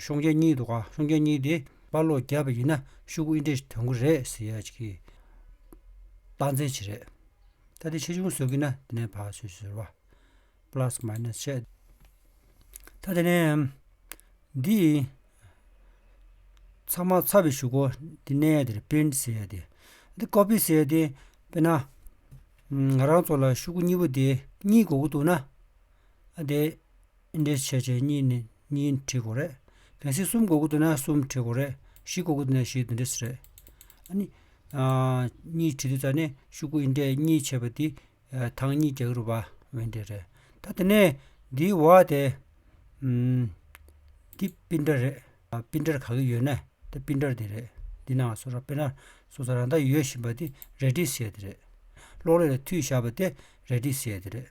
ཤོང་རྒྱ་གཉིས་འདུག་ག་ཤོང་རྒྱ་གཉིས་དེ་དཔའ་ལོག་རྒྱབ་པ་ཡིན་ན་ཤུག་ཨིན་ཏྲེ་དོན་གོ་རེད་ཟེར་ཡག་གི། རྟགས་མཚན་ཆེ་རེད། ད་དེ་ཆེ་ཆུང་བཟོ་གི་ན་དེ་ནས་བག་ཟོས་ཟོས་བ། Plus Minus བཤད། ད་དེ་ནས་འདི་ཚང་མ་ཚ་བའི་ཤུག་གོ་འདི་གནས་ཡས་དེར་པིན་ཟེར་ཡས་དེ། འདི་ཀོ་པི་ཟེར་ཡས་དེ་དཔེར་ན། ང་རང་ཚོ་ལ་ཤུག་གཉིས་པོ་དེ་གཉིས་དགོས་ཀྱི་འདུག་ན། ཨ་དེ་འདྲེ་བྱས་བྱས་གཉིས་ནི་གཉིས་ཁྲི་དགུ་རེད། གལ་སྲིད་གསུམ་གོ་དགུ་བསྡུ་ན་གསུམ་ཁྲི་དགུ་རེད། བཞི་གོ་དགུ་བསྡུ་ན་བཞི་བདུན་ཁྲི་ཟེར། ཨཱ་ནི། གཉིས་ཁྲི་བསྡུ་ས་ནི་ཤུག་གུ་ཡི་འདྲེ་གཉིས་བྱས་པ་དེ། ཐང་གཉིས་བརྒྱག་རུ་བ་འི་འདྲེ་རེད། ད་དེ་ནས་འདིའི་བ་དེ། འདི་སྤི་འདྲ་རེད། སྤི་འདྲར་ག་གི་ཡོད་ན་དེ་སྤི་འདྲར་དེ་རེད། འདི་ནང་སོ་སོར་པེ་ན་སོ་སོར་རང་ད་ཡོད་བཞིན་པ་དེ་རལ་གྲི་ཟེར་དེ་རེད། གློག་ཀླད་ལ་མཐུད་བཞག་པ་དེ་རལ་གྲི་ཟེར་དེ་རེད།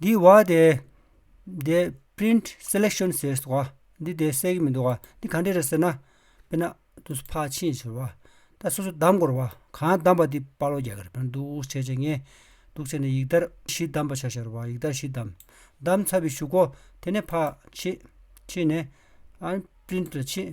འདི་བ་དེ། འདི print selection ཟེར་སོང་བ། འདི་དེ་གསལ་གྱི་མི་འདུག་བ། འདི་ག་འདྲས་རེད་ཟེར་ན། དཔེར་ན། དུས་སུ་ཕག་ཕྱིན་ཟེར་བ། ད་སོ་སོ་གདམས་དགོས་ར་བ། གང་གདམས་པ་དེ་དཔའ་བློ་རྒྱ་གར་བན་དུ་བྱས་བྱས་ངས། འདུག་བྱས་ནས་ཡིག་དར་བཞི་གདམས་པ་བྱ་ཤར་བ་ཡིག་དར་བཞི་གདམས། གདམས་ཚར་བའི་ཞུ་གོ། དེ་ནས་ཕག་ཕྱིན། ཕྱིན་ནས། ཨ་རིའི print ལ་ཕྱིན།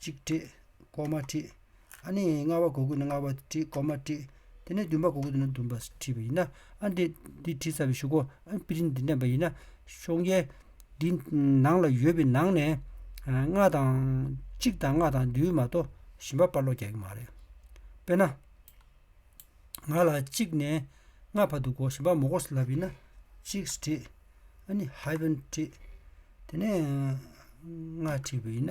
གཅིག་བྲིས། སྐོར་མ་བྲིས། ཨ་ནི་ལྔ་བ་གོ་དགོས་ན་ལྔ་བ་བྲིས་སྐོར་མ་བྲིས། དེ་ནས་བདུན་པ་གོ་དགོས་ན་བདུན་པ་བྲིས་པ་ཡིན། ཨ་འདི་འདི་བྲིས་ཚར་བའི་ཞུ་གོ་ཨ་པི་རིན་འདི་འདྲེན་པ་ཡིན། ཤོང་རྒྱལ། འདི་ནང་ལ་ཡོད་པའི་ནང་ནས། ལྔ་དང། གཅིག་དང་ལྔ་དང་བདུན་མ་གཏོགས་གཞན་པ་དཔར་ལོག་རྒྱག་གི་མ་རེད། དཔེར་ན། ང་ལ་གཅིག་ནས་ལྔ་བར་འདུག་གོ་གཞན་པ་མོ་གོ་སི་ལབ་ཡིན། གཅིག་བྲིས། ཨ་ནི hyphen བྲིས། དེ་ནས་ལྔ་བྲིས་པ་ཡིན།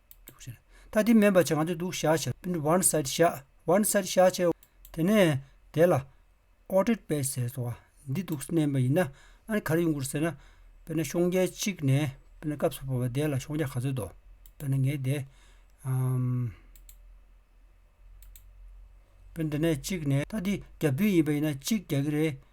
ད་དེ་མེད་པར་བྱ་གང་འདོད་འདུག་བྱ་བྱ། བར་སར་བྱ། བར་སར་བྱ་བྱ། དེ་ནས་དེ་ལ། ཨོ་ཏྲེད་པས་ཟེར་སོ། འདི་འདུག་སེམས་དམན་པ་ཡིན་ན། ཨ་ནི་ག་རེ་ཡོང་གི་རེད་ཟེར་ན། དཔེར་ན་ཤོང་རྒྱལ་གཅིག་ནས། དཔེར་ན་སྐབས་སུ་བབས་པ་དེ་ལ་ཤོང་རྒྱལ་ག་ཚོད་དོ། དཔེར་ན་ངས་དེ། དཔེར་ན་འདི་ནས་གཅིག་ནས། ད་འདི་རྒྱ་བདུན་ཡིན་པ་ཡིན་ན་གཅིག་རྒྱག་གི་རེད།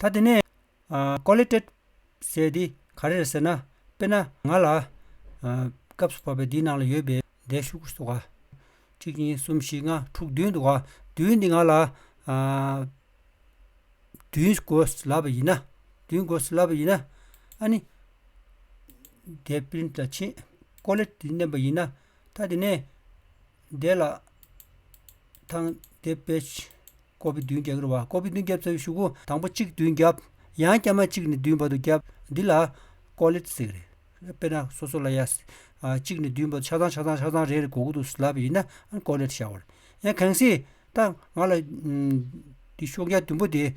ད་དེ་ནས། Qualitative། ཟེར་དེ་ག་རེ་རེད་ཟེར་ན། དཔེར་ན་ང་ལ། སྐབས་སུ་བབས་པའི་འདིའི་ནང་ལ་ཡོད་པའི་འདས་ཤོག་གུ་སོགས། གཅིག་གཉིས་གསུམ་བཞི་ལྔ་དྲུག་བདུན་འདུག་ག། བདུན་འདི་ང་ལ། བདུན་དགོས་ལབ་པ་ཡིན་ན། བདུན་དགོས་ལབ་པ་ཡིན་ན། ཨ་ནི། འདས་པའི་དང་ཕྱིན། Qualitative། བསྣན་པ་ཡིན་ན། ཐ་དེ་ནས་བཟླས་ལ། ཐང་བཟླས་དཔལ་ཆེན་ཀོ་བི་བདུན་བརྒྱ་ཀྱི་རུ་བ་ཀོ་བི་བདུན་བརྒྱ་བཟའ་བའི་གཞུག་གོ། དང་པོ་གཅིག་བདུན་བརྒྱ། ཡང་བསྐྱར་མ་གཅིག་ནས་བདུན་བར་དུ་བརྒྱ། འདི་ལ། ཀོ་ལི་ཏི་ཟེར། དཔེར་ན་སོ་སོ་ལ་ཡ། གཅིག་ནས་བདུན་བར་ཆ་ཚང་ཆ་ཚང་ཆ་ཚང་རེ་རེ་གོ་གོ་དུ་བཟླས་པ་ཡིན་ན་ཀོ་ལི་ཏི་བྱའོ། ཡང་གང་སྲིད། ད་ང་ལ། འདི་ཤོག་བརྒྱ་བདུན་པོ་དེ།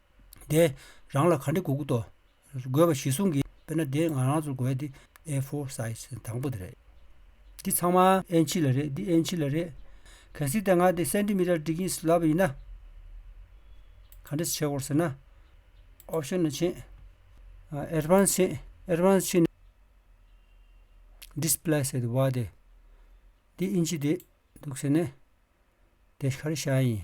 དེ་རང་ལ་ག་འདྲི་དགོས་ཀི་ཏོ། དགོས་པ་གཞི་བཟུང་གི། དཔེར་ན་དེ་ང་རང་ཚོར་དགོས་དེ་ཨེ་ཧྥོར་སའིས་དང་པོ་དེ་རེད། འདི་ཚང་མ་ཨེན་ཆི་ལ་རེད་འདི་ཨེན་ཆི་ལ་རེད། གལ་སྲིད་དེ་ང་དེ་སེན་ཏི་མི་ཏར་ཏི་གིས་ལབ་པ་ཡིན་ན། ག་འདྲི་བྱེད་དགོས་ཟེར་ན། ཨོབ་ཤོན་ལ་ཕྱིན། ཨེར་བྷན་ཕྱིན། ཨེར་བྷན་ཕྱིན་ནས། ལྡིས་པི་ལ་སེ་དེ་བ་དེ། འདི་ཨིན་ཆི་དེ་འདུག་ཟེར་ནས། དེ་ག་རེ་བྱ་ཡིན།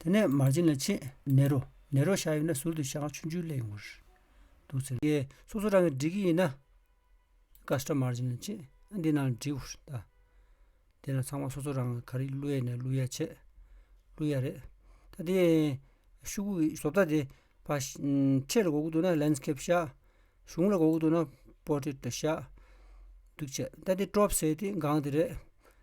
དེ་ནས་མར་བྱིན་ལ་ཕྱེད་ནས་རོ། ནས་རོ་བཞག་ཡོད་ན་ཟུར་དུ་བཞག་ཆུ་འཇུ་སླད་ཡོང་བར་འདུག་ཟེར། ཡེ། སོ་སོ་རང་གིས་འགྲིག་གི་ཡིན་ན། ཀ་སྐྲ་མར་བྱིན་ལ་ཕྱེད་འདི་ནང་འགྲིག་བར་གདའ། དེ་ལ་ཚང་མ་སོ་སོ་རང་གིས་ག་རེ་བླུ་ཡས་ནས་བླུ་ཡ་བྱེད། བླུ་ཡ་རེད། ད་དེ་ཤུག་གུ་གིས་བཟོ་ལྟ་དེ། ཁྲེས་ལ་དགོས་ཀྱི་འདུག་ན་ལན་སྐེབ་བཞག། གཞུང་ལ་དགོས་ཀྱི་འདུག་ན་པོ་ཏྲེ་ཏྲོ་བཞག། འདུག་བྱས། ད་དེ་ཀྲོབ་བཟས་ཏེ་འགངས་དེ་རེད།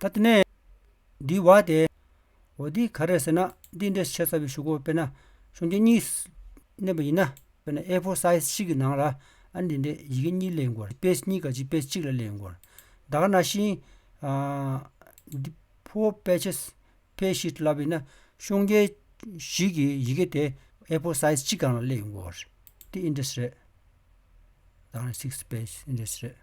ད་དེ་ནས། འདིའི་བ་དེ། འོ་འདི་ག་རེད་ཟེར་ན་འདི་འདྲའི་ཆེ་ས་བའི་ཞུ་སྒོ་དཔེར་ན་ཤོང་ཁྱེར་གཉིས་བསྣན་པ་ཡིན་ན་དཔེར་ན་ཨེ་ཧྥོར་སཱིས་གཅིག་གི་ནང་ལ་ཨ་འདི་འདྲའི་ཡི་གེ་གཉིས་གླེང་དགོས་པ་དཔེ་གཉིས་ཀ་གཅིག་དཔེ་གཅིག་ལ་གླེང་དགོས་པ་དག་ན་ཤིང། Four pages ཕལ་བཞི་བསླབ་པ་ཡིན་ན་ཤོང་ཁྱེར་བཞི་གི་ཡི་གེ་དེ་ཨེ་ཧྥོར་སཱིས་གཅིག་གང་ལ་གླེང་དགོས་པ་རེད། འདི་འདྲ་ཞིག་རེད། དག་ན six pages འདྲ་ཞིག་རེད།